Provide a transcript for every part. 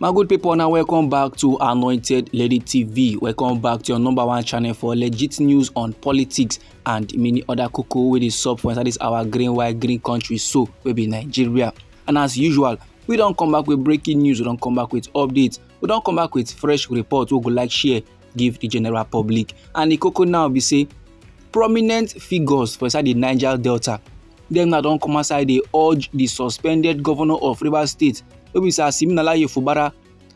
my good people now welcome back to anointed lady tv welcome back to your number one channel for legit news on politics and many other cocoa with the sub for inside this our green white green country so we be nigeria and as usual we don't come back with breaking news we don't come back with updates we don't come back with fresh reports we go like share give di general public and di koko now be say prominent figures for inside di niger delta dem now don come outside dey urge di suspended governor of rivers state wey be sir siminalayi fubara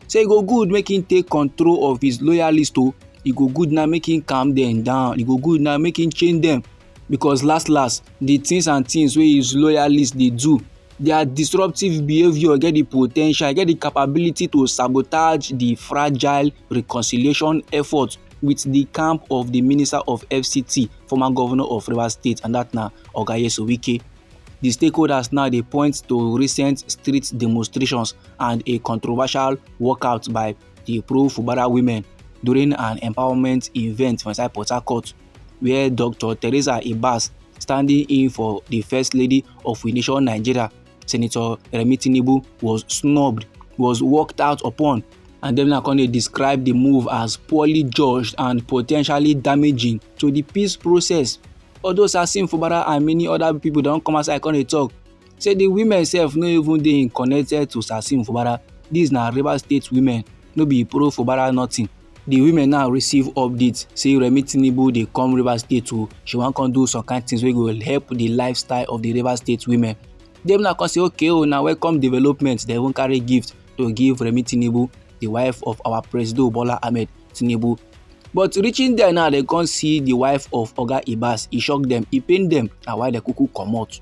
say e go good make him take control of his loyalist o oh. e go good now make him calm dem down e go good now make him change dem because last last the things and things wey his loyalists dey do their disruptive behaviour get the po ten tial get the capability to sabotage the fragile reconciliation effort with the camp of the minister of fct former governor of rivers state and that na oga yesu wike the stakeholders now dey point to recent street demonstrations and a controversial walkout by the pro-fubara women during an empowerment event for inside port harcourt. wia dr theresa ibas standing in for di first lady of we nation nigeria senator remi tinubu was snubbed was walked out upon and dem now come dey describe di move as poorly judged and potentially damaging to di peace process although sasim fubara and many oda pipo don come outside come dey tok say di women sef no even dey connected to sasim fubara dis na rivers state women no be pro fubara nothing the women now receive update say remi tinubu dey come rivers state o she wan come do some kind things wey go help the lifestyle of the rivers state women dem now come say okay o oh, na welcome development dem even carry gift to give remi tinubu the wife of our president bola ahmed tinubu but reaching there now dem come see the wife of oga ibas e shock dem e pain dem na why dem kuku comot.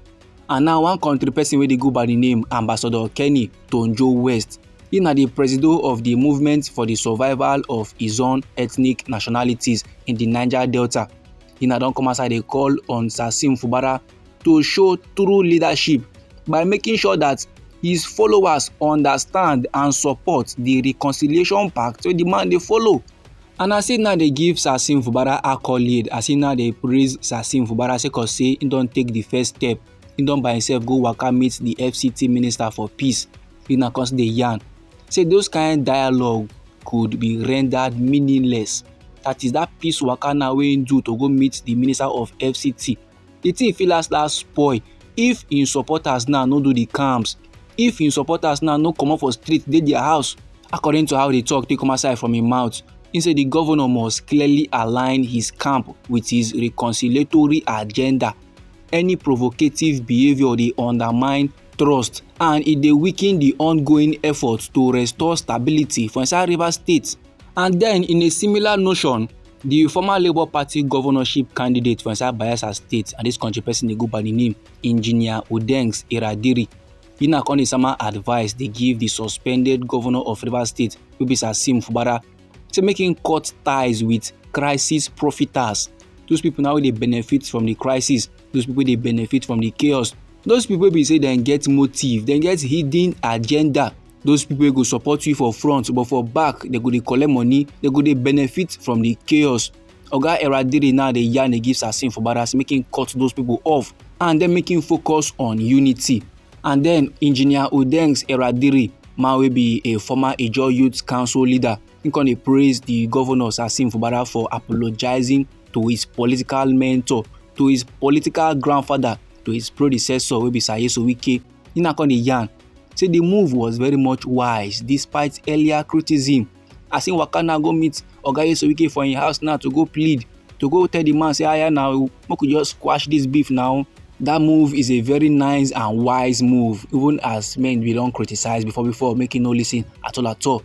and now one country person wey dey go by the name ambassador kenny tonjo west he na the presido of the movement for the survival of his own ethnic nationalities in the niger delta he na don come outside dey call on sasim fubara to show true leadership by making sure that his followers understand and support the reconciliation pact wey the man dey follow And as he now dey give Sasim Fubara accolade, as he now dey praise Sasim Fubara sake of say he don take the first step, he don by himself go waka meet the FCT minister for peace, he now come dey yarn say those kind dialogue could be rendered meaningless. That is that peace waka now wey he do to go meet the minister of FCT the thing fit last last spoil if im supporters now no do the camps if im supporters now no comot for street dey their house according to how the talk take come outside from im mouth he say the governor must clearly align his camp with his reconciliatory agenda any provocative behaviour dey undermine trust and e dey weaken di ongoing efforts to restore stability for inside rivers state and den in a similar notion di former labour party governorship candidate for inside bayelsa state and dis country person dey go by di name engineer odengs iradiri e na come dey sama advice dey give di suspended governor of rivers state wey be sasim fubara say make im cut ties with crisis profiters those people now wey dey benefit from di crisis those people wey dey benefit from di chaos those people wey be say dem get motive dem get hidden agenda those people wey go support you for front but for back dem go dey collect money dem go dey benefit from the chaos oga eradiri now dey yarn dey give sassin for barras make him cut those people off and then make him focus on unity and then engineer odengs eradiri man wey be a former ijaw youth council leader He come dey praise the governor Sasim Fubara for apologizing to his political mentor, to his political grandfather, to his predecessor wey be Sir Nyesom Wike. He now come dey yarn say the move was very much wise despite earlier criticism. As he waka now go meet Oga Nyesom Wike for him house now to go plead to go tell the man say aya now make we just squash this beef now that move is a very nice and wise move even as men bin don criticize before before make he no listen at all at all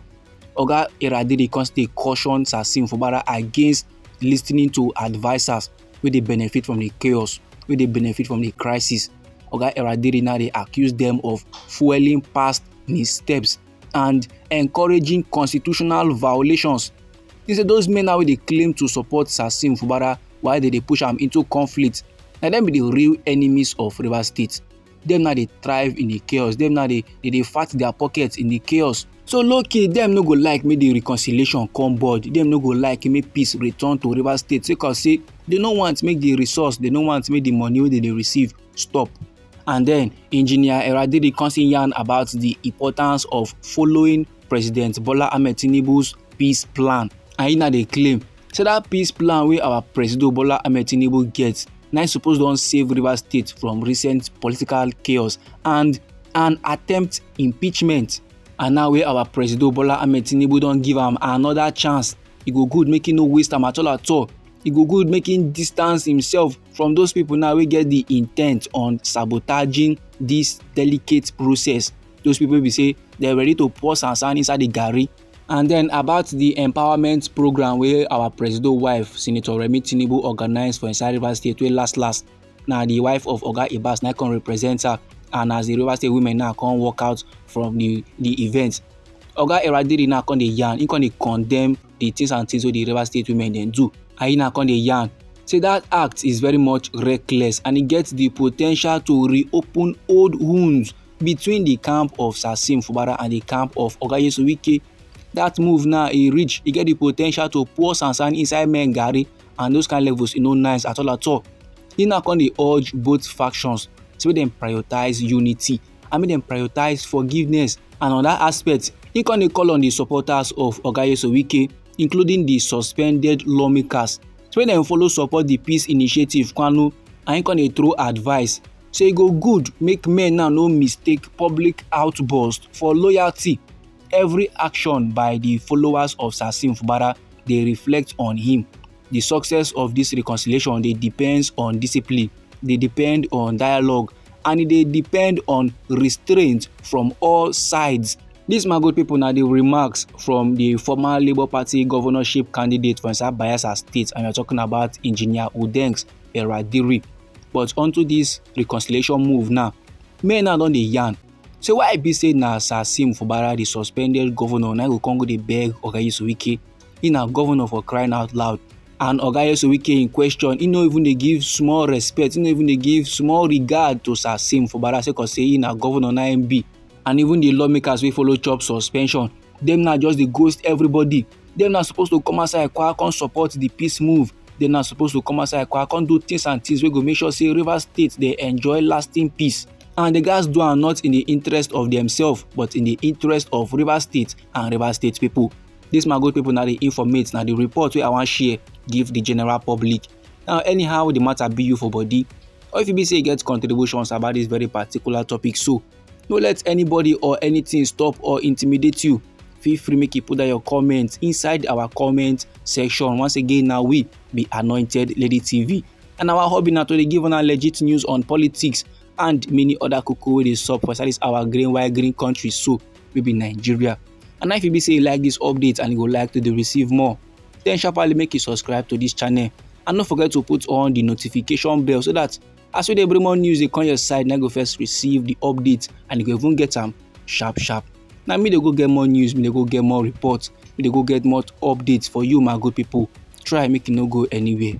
Oga Iradiri come still caution Sasim Fubara against listening to advisers wey dey benefit from the chaos, wey dey benefit from the crisis. Oga Iradiri now dey accuse them of fueling past missteps and encouraging constitutional violations. He say those men now wey dey claim to support Sasim Fubara while they dey push am into conflict, na them be the real enemies of Rivers State. dem na dey thrive in the chaos dem na dey dey dey fat their pockets in the chaos so low-key dem no go like make the reconciliation come board dem no go like make peace return to rivers state sake of say dem no want make the resource dem no want make the money wey dem dey receive stop and then engineer eradiri come still yarn about the importance of following president bola ahmed tinubu's peace plan and he na dey claim say that peace plan wey our presido bola ahmed tinubu get na suppose don save rivers state from recent political chaos and an attempt impeachment and now wey our presido bola ahmed tinubu don give am another chance e go good make e no waste am at all at all e go good make e distance himself from those people now wey get the intent on sabotaging this delicate process those people be say they're ready to pour sansan inside the garri And then about the empowerment program wey our presido wife Senator Remi Tinubu organize for inside Rivers State wey last last na the wife of Oga Ibas na come represent her and as the Rivers State women now come walk out from the the event. Oga Eradiri now come dey yarn, he come dey condemn the things and things wey the Rivers State women dem do and he now come dey yarn say that act is very much reckless and e get the potential to reopen old wounds between the camp of Sasim Fubara and the camp of Oga Yesu Wike. That move now e reach, e get the potential to pour sansan inside men garri and those kind levels e no nice at all at all. E now come dey urge both factions to make dem prioritize unity and make dem prioritize forgiveness and on that aspect e come dey call on the supporters of Oga Yesu Wike including the suspended lawmakers to make dem follow support the peace initiative Kwanu and e come dey throw advice say e go good make men now no mistake public outbursts for loyalty, every action by di followers of Sasim Fubara dey reflect on him. Di success of dis reconciliation dey depends on discipline, dey depend on dialogue and e dey depend on restraint from all sides. Dis my good pipo na di remarks from di former Labour Party governorship candidate for inside Bayelsa State and we are talking about Engineer Udengs Eradiri. but unto this reconciliation move now men now don dey yarn say why e be say na sasim fubara the suspended governor na go come go dey beg oga yesuwike he na governor for crying out loud and oga yesuwike in question he no even dey give small respect he no even dey give small regard to sasim fubara sake of say he na governor na im be and even the lawmakers wey follow chop suspension dem now just dey ghost everybody dem na suppose to come outside kwa come support the peace move dem na suppose to come outside kwa come do things and things wey go make sure say rivers state dey enjoy lasting peace and the guys do am not in the interest of themselves but in the interest of rivers state and rivers state people this my good people na the informate na the report wey i wan share give the general public now anyhow the matter be you for body or if you be say you get contributions about this very particular topic so no let anybody or anything stop or intimidate you feel free make you put down your comment inside our comment section once again now we be anointed lady tv and our hobby now to give on our legit news on politics and many other koko wey dey sup for inside our green white green country so we be nigeria and if you be say you like this update and you go like to receive more then sharply make you subscribe to this channel and don't forget to put on the notification bell so that As we dey bring more news dey come your side, na go first receive the update and you go even get am sharp sharp. Na me dey go get more news, me dey go get more report, me dey go get more updates for you my good people. Try make you no go anywhere.